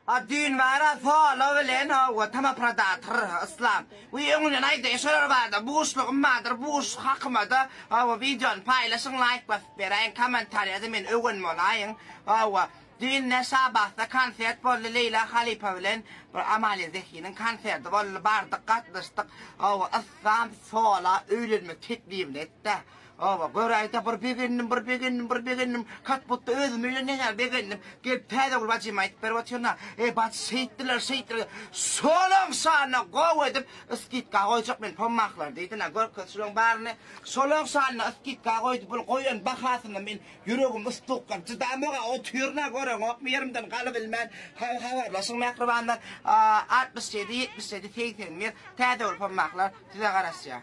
A düýn bara solo bilen howwa tama prodator Yslam we öňünden aýdaýa şolar barda buşlugym bardyr buş hakymada howwa wideony paýlaşyň laýk basyp beräýiň komentariýada men öwen bolaýyn howwa düýn Neşabatda konsert boldy Leýla halypa bilen bir Amalia Zehiniň konserdi boldy bardyk gatnaşdyk howwa Yslam sola öýlenmek teklibini etdä. Oba, göräýse bir begendim, bir begendim, bir begendim. Katbutda özümi bilen nähä begendim. Gelip Täzegül bajyma aýdyp berip otyryn-a. Eý, bajy, şeýtdiler, şeýtdiler. Şolaň şanyna gowy edip, skidka goýjak men pommahlar diýdin-ä. Görkez şulaň baryny. Şolaň şanyna skidka goýdy. Bul goýan bahasyna men ýüregim ystuklap çydamog-a otyryn-a. Göreňokmy, ýerimden galybilmän. Haý, habarlaşyň, mähribanlar. Altmyş ýedi, ýetmiş ýedi, segsen bir. Täzegül pommahlar size garaşýar.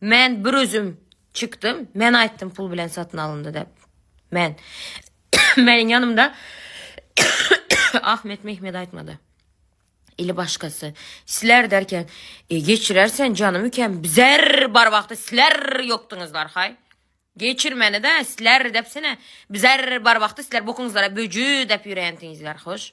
Men bir özüm çykdym. Men aýtdym pul bilen satyn alyndy dep. Men. Meniň ýanymda Ahmet Mehmet aýtmady. Ili başgasy. Sizler derken, e, geçirersen janymy ikem, bizer bar wagty sizler ýokduňyz barhaý. Geçirmeni-de sizler depsine, bizer bar wagty sizler bokuňyzlara böji dep ýörendiňizler, hoş.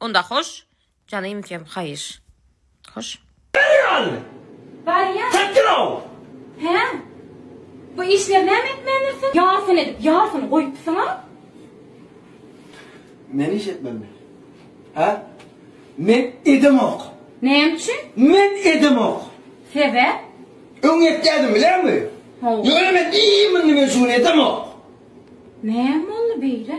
Onda hoş janymkem haýyş. Hoş. Bäri ýaly. Barýa. Çekdirow. Hä? Bu işleri näme etmändirsiň? Ýarsyn edip, ýarsyny goýupsyň-a? Men iş etmänmi? Hä? Men edemok. Näme üçin? Men edemok. Sebäp? Öň etýärdim, bilermi? Hawa. Ýöne men iýmindi, men şu gün edemok. Näme boldy beýle?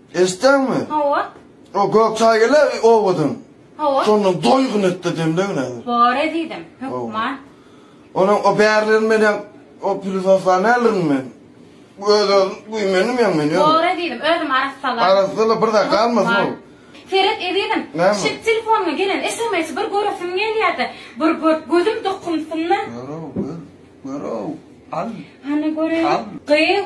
Eşitdäňmi? Hawa. O gök çaý gele owadan. Hawa. Şondan doýgun etde demlegin häzir. Bor ezizim, hökman. Onuň o bärlerini men hem o pilifaflany alyryn men. Öz-özüm güýmendim ýaňy men. Bor ezizim, özüm arassalaýyn. Arassala bir zat galmasyn ol. Seret ezizim, şit telefonyma gelen SMS-i bir göresim gelýärdi. Bir gör, gözüm dokunsyn-da. Gör-ow, gör. Gör-ow, al. Hany göreýin. Al. Gyz.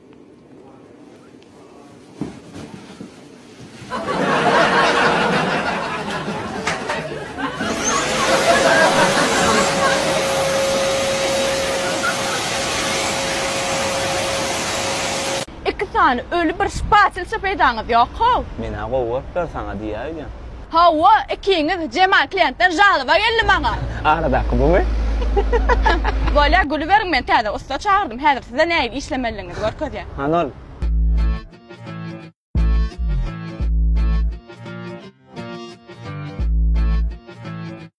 Iki sany öli bir şpatilşa peýdaňyz ýok-how? Men-ä gowy görüp dur saňa diýäýdim. Hawa ikiňiz Jemal kliýentden žalyba geldi maňa. Aradaky bumy? Bolýa gülüberiň men täze ussa çagyrdym häzir size nähili işlemelidigiňizi görkezýän. Hany ol.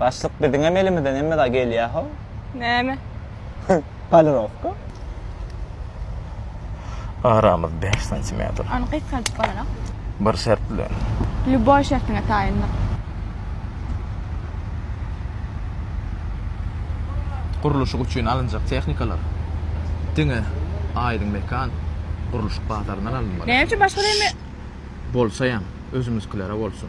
Başlyk biziňem elimizden hemme zat gelýär how. Näme? Polirowka. Aramyz bäş santimetr. Ony gysgaldyp bolanok. Bir şert bilen. Lýuboý şertiňe taýyndyk. Gurluşyk üçin alynjak tehnikalar diňe Aýdyň mekan gurluşyk bazaryndan alynmaly. Näme üçin başga reme? Bolsaýam, özümiziklere bolsun.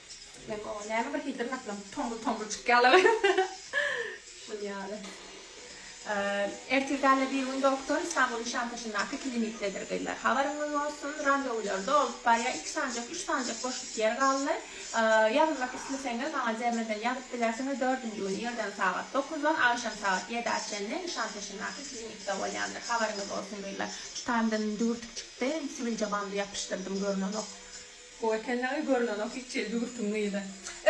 Meň oba näme bir hi dyrnaklarym tombul-tombul çykýarlar. Şul ýaly. Ertirgäle bir gün doktor Islamguly Nişantaşyndaky klinikdedir gyzlar. Habaryňyz bolsun, randewular dolup barýar, iki sanjak, üç sanjak boşluk ýer galdy. Ýazylmak isleseňiz, maňa dermeden ýazyp bilersiňiz, dördünji güni irden sagat dokuzdan agşam sagat ýedä çenli Nişantaşyndaky klinikde bolýandyr. Habaryňyz bolsun gyzlar. Tutandan düwürtik çykdy, siwilje bandy ýapyşdyrdym, görnenok. Gowy ekenligi görülenok hiç ýeri düwürtiň gyzy.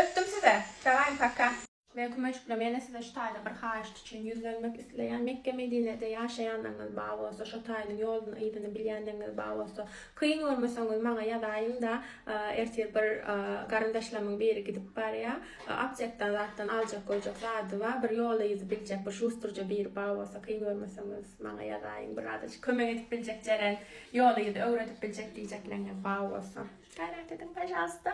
Öpdüm size. Daway paka. Men kümejikli mena size şu taýda bir haýyşt üçin ýüzlenmek isleýän Mekge Medinede ýaşaýanlygyňyz ba bolsa şo taýynyň ýoluny yzyny bilýänligiňiz ba bolsa kyn görmeseňiz maňa ýazaýyňda ertir bir garyndaşlarymyň biri gidip barýa aptekdan zatdan aljak goýjak zady ba bir ýoly yzy biljek bir şustrja biri ba bolsa kyn görmeseňiz maňa ýazaýyň biraz kömek edip biljek jeren Ýoly ýüzi öwredip biljek diýjekleňňe sag bolsun. Gaýrat ediň pažalsta.